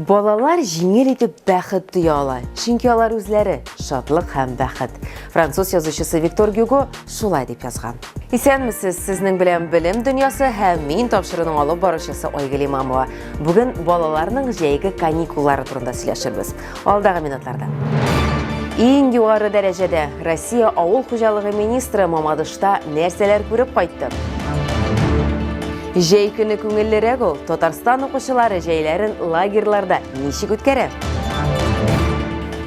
Балалар җиңел итеп бәхет тоя ала, чөнки алар үзләре шатлык һәм бәхет. Француз язучысы Виктор Гюго шулай дип язган. Исәнмесез, сезнең белән белем дөньясы һәм мин тапшыруның алып баручысы Айгөл Имамова. Бүген балаларның җәйге каникуллары турында сөйләшербез. Алдагы минутларда. Иң югары дәрәҗәдә Россия авыл хуҗалыгы министры Мамадышта нәрсәләр күреп кайтты? Җәй көне күңеллерәк ул. Татарстан укучылары җәйләрен лагерьларда ничек үткәрә?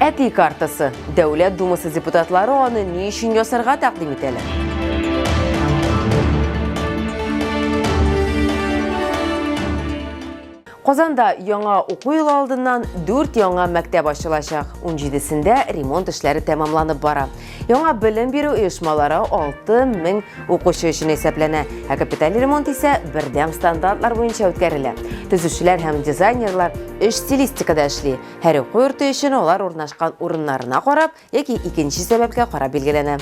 Әти картасы. Дәүләт думасы депутатлары аны ни өчен ясарга тәкъдим итәләр? Казанда яңа уку елы алдыннан дүрт яңа мәктәп ачылачак. Унҗидесендә ремонт эшләре тәмамланып бара. Яңа белем бирү оешмалары алты мең укучы өчен исәпләнә, ә капиталь ремонт исә бердәм стандартлар буенча үткәрелә. Төзүчеләр һәм дизайнерлар өч стилистикада эшли. Һәр уку йорты өчен алар урнашкан урыннарына карап, яки икенче сәбәпкә карап билгеләнә.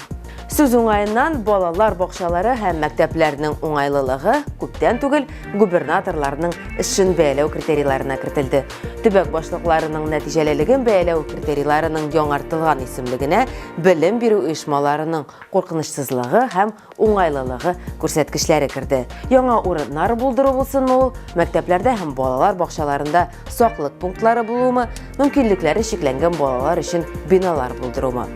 Сүз уңаеннан, балалар бакчалары һәм мәктәпләрнең уңайлылыгы күптән түгел губернаторларның эшен бәяләү критерийларына кертелде. Төбәк башлыкларының нәтиҗәлелеген бәяләү критерийларының яңартылган исемлегенә белем бирү оешмаларының куркынычсызлыгы һәм уңайлылыгы күрсәткечләре керде. Яңа урыннар булдыру булсынмы ул, мәктәпләрдә һәм балалар бакчаларында саклык пунктлары булуымы, мөмкинлекләре чикләнгән балалар өчен биналар булдырумы.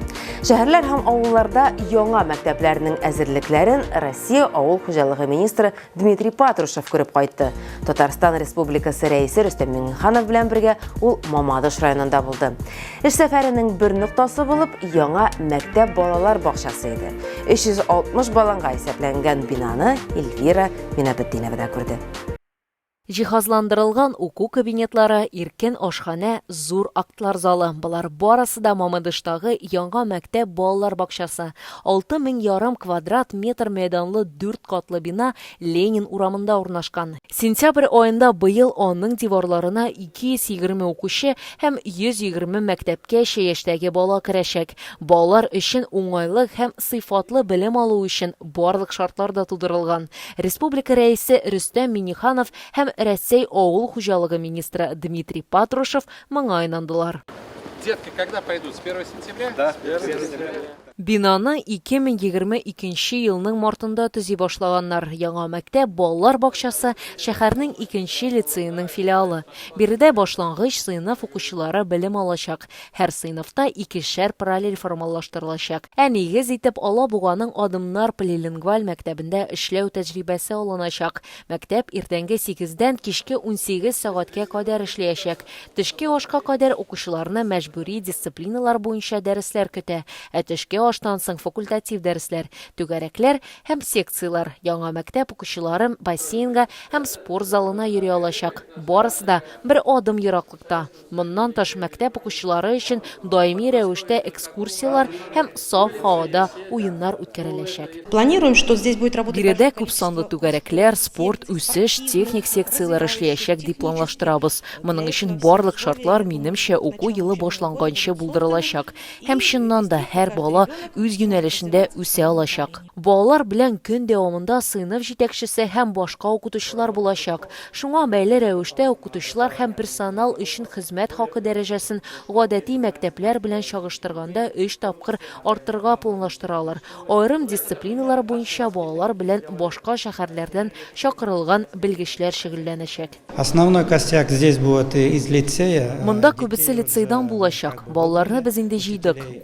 Шәһәрләр һәм авылларда яңа мәктәпләрнең әзерлекләрен Россия авыл хуҗалыгы министры Дмитрий Патрушев күреп кайтты. Татарстан Республикасы рәисе Рөстәм Миңнеханов белән бергә ул Мамадыш районында булды. Эш сәфәренең бер ноктасы булып яңа мәктәп балалар бакчасы иде. 360 баланга исәпләнгән бинаны Эльвира Минабетдинова да күрде. Җиһазландырылган уку кабинетлары, иркен ашханә, зур актлар залы, болар барысы да Мамадыштагы яңа мәктәп балалар бакчасы, алты мең ярым квадрат метр мәйданлы дүрт катлы бина Ленин урамында урнашкан. Сентябрь аенда быел аның диварларына 220 укучы һәм 120 мәктәпкәчә яшьтәге бала керәчәк. Балалар өчен уңайлы һәм сыйфатлы белем алу өчен барлык шартлар да тудырылган. Республика Рәисе Рөстәм Миңнеханов һәм Рәсәй авыл хуҗалыгы министры Дмитрий Патрушев моңа инандылар. Детки когда пойдут? С первого сентября? Да, с первого сентября. Бинаны 2022 нче елның мартында төзи башлаганнар. Яңа мәктәп, балалар бакчасы, шәһәрнең икенче лицееның филиалы. Биредә башлангыч сыйныф укучылары белем алачак. Һәр сыйныфта икешәр параллель формалаштырылачак. Ә нигез итеп Алабуганың Адымнар полилингваль мәктәбендә эшләү тәҗрибәсе алыначак. Мәктәп иртәнге сигездән кичке унсигез сәгатькә кадәр эшләячәк. Төшке ашка кадәр укучыларны мәҗбүри дисциплиналар буенча дәресләр көтә, ә төшке аштан соң факультатив дәресләр, түгәрәкләр һәм секцияләр. Яңа мәктәп укучылары бассейнга һәм спорт залына йөри алачак, барысы да бер адым ераклыкта. Моннан тыш мәктәп укучылары өчен даими рәвештә экскурсияләр һәм саф һавада уеннар үткәреләчәк. Планируем, что здесь будет работать большое количество. Биредә күпсанлы түгәрәкләр, спорт, үсеш, техник секцияләр эшләячәк дип планлаштырабыз. Моның өчен барлык шартлар, минемчә, уку елы башланганчы булдырылачак. Һәм чыннан да, һәр бала үз юнәлешендә үсә алачак. Балалар белән көн дәвамында сыйныф җитәкчесе һәм башка укытучылар булачак. Шуңа бәйле рәвештә укытучылар һәм персонал өчен хезмәт хакы дәрәҗәсен гадәти мәктәпләр белән чагыштырганда өч тапкыр арттырырга планлаштыралар. Аерым дисциплиналар буенча балалар белән башка шәһәрләрдән чакырылган белгечләр шөгыльләнәчәк. Основной костяк здесь будет из лицея. Монда күбесе лицейдан булачак. Балаларны без инде җыйдык.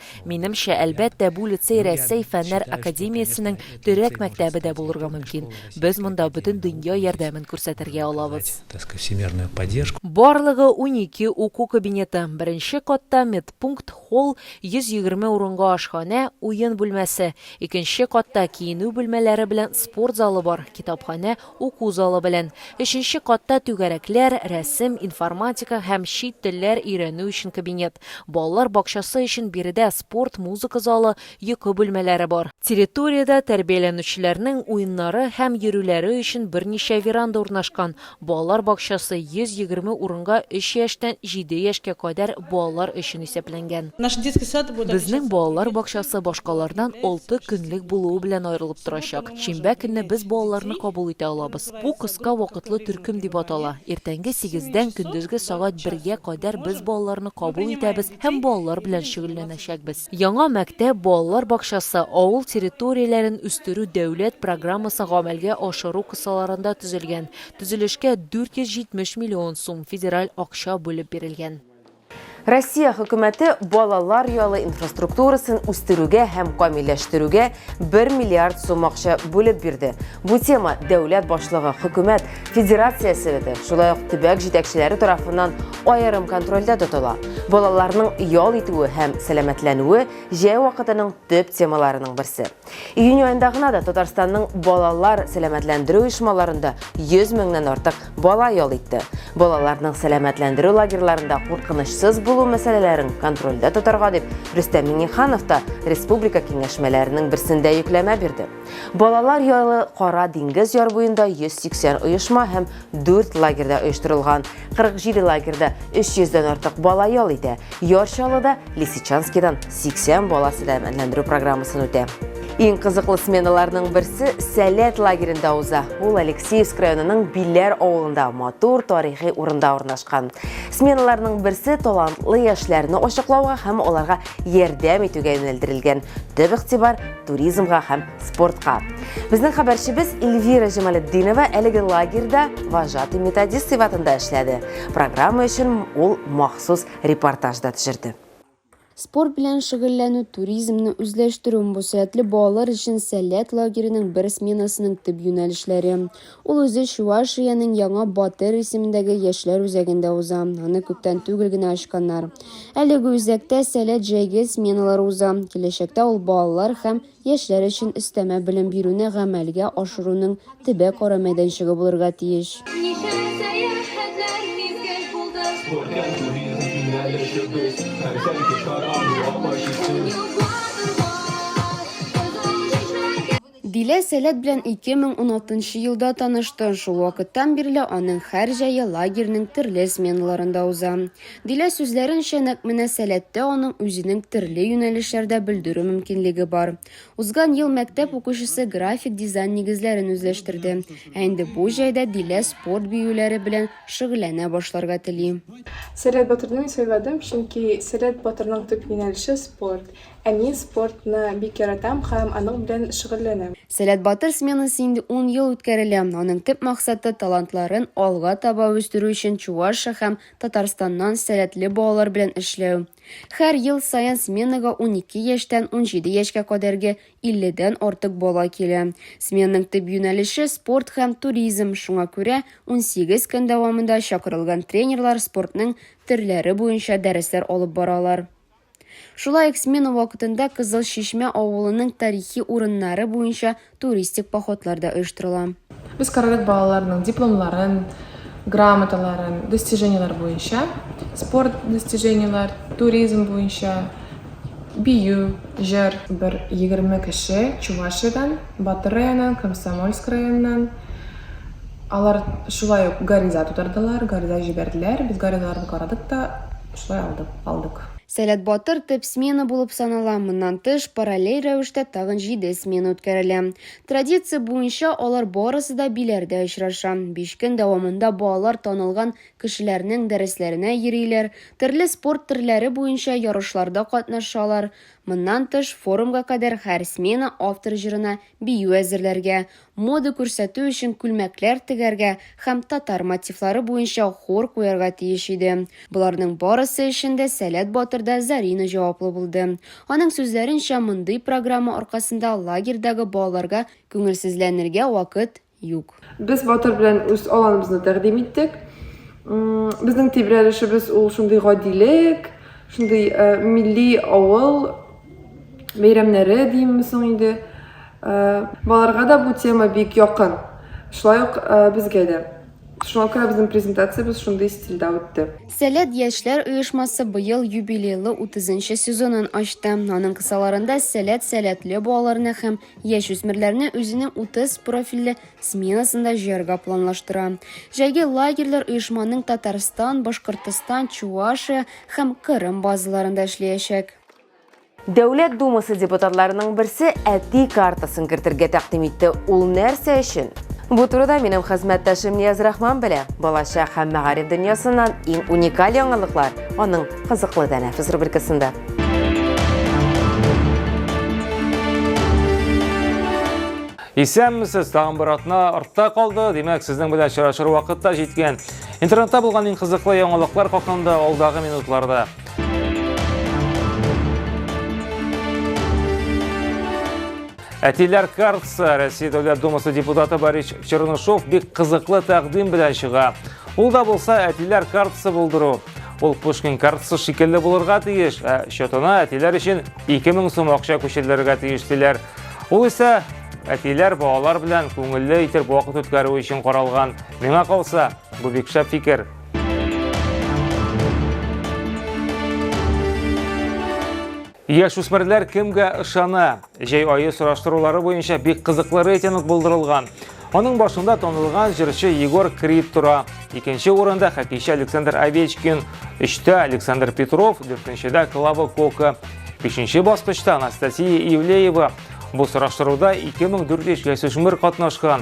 Минемчә, әлбәттә, бу лицей Рәсәй Фәннәр академиясенең Төрәк мәктәбе дә булырга мөмкин. Без монда бөтен дөнья ярдәмен күрсәтергә алабыз. Барлыгы унике уку кабинеты, беренче катта медпункт, холл, 120 урынга ашханә, уен бүлмәсе, икенче катта киенү бүлмәләре белән спорт залы бар, китапханә, Уку залы белән. Өченче катта түгәрәкләр, рәсем, информатика һәм чит телләр өйрәнү өчен кабинет. Балалар бакчасы өчен биредә спорт, музыка залы, йокы бүлмәләре бар. Территориядә тәрбияләнүчеләрнең уеннары һәм йөрүләре өчен берничә веранда урнашкан. Балалар бакчасы 120 урынга өч яшьтән җиде яшькә кадәр балалар өчен исәпләнгән. Безнең балалар бакчасы башкалардан алты көнлек булуы белән аерылып торачак. Шимбә көнне без балаларны кабул итә алабыз. Бу кыска вакытлы төркем дип атала. Иртәнге сигездән көндезге сәгать бергә кадәр без балаларны кабул итәбез һәм балалар белән шөгыльләнәчәкбез. Яңа мәктәп, балалар бакчасы, авыл территорияләрен үстерү дәүләт программасы гамәлгә ашыру кысаларында төзелгән. Төзелешкә 470 миллион сум федераль акча бүлеп бирелгән. Россия хөкүмәте балалар яалы инфраструктурасын үстерүгә һәм камилләштерүгә 1 миллиард сум акча бүлеп бирде. Бу тема дәүләт башлыгы, хөкүмәт, Федерация Советы, шулай ук төбәк җитәкчеләре тарафыннан аерым контрольдә тотыла. Балаларның ял итүе һәм сәламәтләнүе җәй вакытының төп темаларының берсе. Июнь аенда гына да Татарстанның балалар сәламәтләндерү оешмаларында 100 меңнән артык бала ял итте. Балаларның сәламәтләндерү лагерьларында куркынычсыз булу мәсьәләләрен контрольдә тотарга дип Рөстәм Миңнеханов та республика киңәшмәләренең берсендә йөкләмә бирде. Балалар ялы Кара диңгез яр буенда 180 оешма һәм Дүрт лагерьда оештырылган. 47 лагерьда 300 дән артык бала ял итә. Яр Чаллыда, Лисичанскидан 80 бала сәламәтләндерү программасын үтә. Иң кызыклы сменаларның берсе Сәләт лагеренда уза. Ул Алексеевск районының Биләр авылында матур тарихи урында урнашкан. Сменаларның берсе талантлы яшьләрне ачыклауга һәм аларга ярдәм итүгә юнәлдерелгән. Төп игътибар туризмга һәм спортка. Безнең хәбәрчебез Эльвира Җамалетдинова әлеге лагерьда вожатый методист сыйфатында эшләде. Программа өчен ул махсус репортаж да төшерде. Спорт белән шөгыльләнү туризмны үзләштерү бу сәятле балалар өчен сәләт лагеренең бер сменасының төп юнәлешләре. Ул үзе Чувашиянең Яңа Батыр исемендәге яшьләр үзәгендә уза. Аны күптән түгел генә ачканнар. Әлеге үзәктә сәләт җәйге сменалар уза. Киләчәктә ул балалар һәм яшьләр өчен өстәмә белем бирүне гамәлгә ашыруның төбәк-ара мәйданчыгы булырга тиеш. Ничә сәяхәтләр мизгел булды. Күркәм туризм юнәлешебез һәм сәнге чара урамы чистү. Дилә Сәләт белән 2016 елда танышты, шул вакыттан бирле аның һәр җәе лагерьның төрле сменаларында уза. Дилә сүзләренчә, нәкъ менә Сәләттә аның үзенең төрле юнәлешләрдә белдерү мөмкинлеге бар. Узган ел мәктәп укучысы график дизайн нигезләрен үзләштерде, ә инде бу җәйдә Дилә спорт биюләре белән шөгыльләнә башларга тели. Сәләт батырны мин сайладым, чөнки Сәләт батырның төп юнәлеше, спорт. Ә мин спортны бик яратам һәм аның белән шөгыльләнәм. Сәләт батыр сменасы инде ун ел үткәрелә, аның төп максаты, талантларын алга таба үстерү өчен Чувашия һәм Татарстаннан сәләтле балалар белән эшләү. Хәр ел саен сменага унике яшьтән унҗиде яшькә кадәрге илледән артык бала килә. Сменаның төп юнәлеше, спорт һәм туризм, шуңа күрә унсигез көн дәвамында чакырылган тренерлар спортның төрләре буенча дәресләр алып баралар. Шулай ук смена вакытында Кызыл Чишмә авылының тарихи урыннары буенча туристик походлар да оештырыла. Без карадык балаларның дипломларын, грамоталарын, достижениеләр буенча, спорт достижениеләр, туризм буенча, бию, җыр. Бер егерме кеше Чувашиядән, Батыр районыннан, Комсомольск районыннан. Алар шулай ук гариза тутырдылар, гариза җибәрделәр. Без гаризаларны карадык та, Шулай алдык, алдык. Сәләт батыр төп смена булып санала, моннан тыш, параллель рәвештә тагын җиде смена үткәрелә. Традиция буенча, алар барысы да биләрдә очраша. Биш көн дәвамында балалар танылган кешеләрнең дәресләренә йөриләр, төрле спорт төрләре буенча ярышларда катнашалар. Моннан тыш, форумга кадәр һәр смена автор җырына бию әзерләргә, мода күрсәтү өчен күлмәкләр тегәргә һәм татар мотивлары буенча хор куярга тиеш иде. Боларның барысы өчен дә Сәләт батыр да Зарина җаваплы булды. Аның сүзләренчә, мондый программа аркасында лагерьдагы балаларга күңелсезләнергә вакыт юк. Без Батыр белән үз аланыбызны тәкъдим иттек. Безнең тибрәлешебез ул шундый гадилек, шундый э, милли авыл бәйрәмнәре димме соң инде, балаларга да бу тема бик якын, шулай ук безгә дә. Шуңа күрә безнең презентациябез шундый стильдә үтте. Сәләт яшьләр оешмасы быел юбилейлы утызынчы сезонын ачты. Аның кысаларында Сәләт сәләтле балаларны һәм яшүсмерләрне үзенең утыз профильле сменасында җыярга планлаштыра. Җәйге лагерьлар оешманың Татарстан, Башкортостан, Чувашия һәм Кырым базаларында эшләячәк. Дәүләт Думасы депутатларының берсе әти картасын кертергә тәкъдим итте. Ул нәрсә өчен? Бу турыда минем хезмәттәшем Нияз Рахман белә. Балачак һәм мәгариф дөньясыннан иң уникаль яңалыклар аның кызыклы тәнәфес рубрикасында. Исәнмесез, тагын бер атна артта калды. Димәк, сезнең белән очрашыр вакыт та җиткән. Интернетта булган иң кызыклы яңалыклар хакында алдагы минутларда. Әтиләр Каркса, Россия Дәүләт Думасы депутаты Борис Чернышов бик кызыклы тәкъдим белән чыга. Ул да булса әтиләр картасы булдыру. Ул Пушкин картасы шикелле булырга тиеш, ә счетына әтиләр өчен 2000 сум акча күчерелергә тиеш диләр. Ул исә әтиләр балалар белән күңелле итеп вакыт үткәрү өчен каралган. Миңа калса, бу бик шәп фикер. Яшүсмерләр кемгә ышана? Җәй айы сораштырулары буенча бик кызыклы рейтинг булдырылган. Аның башында танылган җырчы Егор Крид тора. Икенче урында хоккейчы Александр Овечкин, өчтә Александр Петров, дүртенчедә Клава Кока. Бишенче баскычта Анастасия Ивлеева. Бу сораштыруда 2400 яшүсмер катнашкан.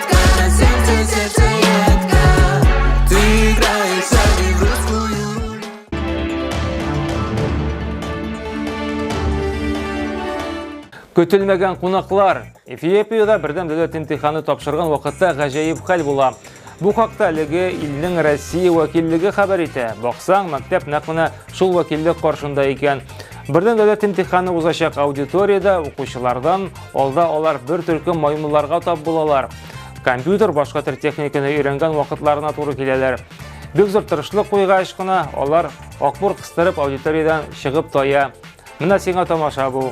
Көтелмәгән кунаклар. Эфиопиядә бердәм дәүләт имтиханы тапшырган вакытта гаҗәеп хәл була. Бу хакта әлеге илнең Россия вәкиллеге хәбәр итә. Баксаң, мәктәп нәкъ менә шул вәкиллек каршында икән. Бердәм дәүләт имтиханы узачак аудиториядә укучылардан Алда алар бер төркем маймылларга тап булалар. Компьютер башка төр техниканы өйрәнгән вакытларына туры киләләр. Бик зур тырышлык куйгач кына алар акбур кыстырып аудиториядән чыгып тая. Менә сиңа тамаша бу.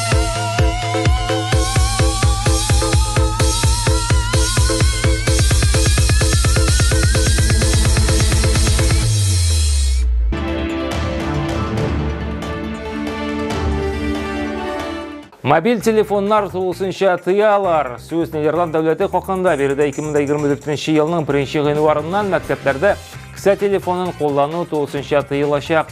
Мобиль телефоннар тулысынча тыялар. Сүз Нидерланд дәүләте хакында биредә 2024 елның 1 гыйнварыннан мәктәпләрдә кесә телефонын куллану тулысынча тыелачак.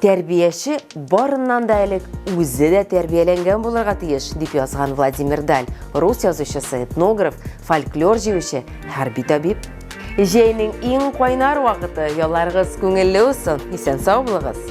Тәрбияче барыннан да элек үзе дә тәрбияләнгән булырга тиеш, дип язган Владимир Даль, рус язучысы, этнограф, фольклор җыючы, хәрби табиб. Җәйнең иң кайнар вакыты, ялларыгыз күңелле усын, исән сау булыгыз!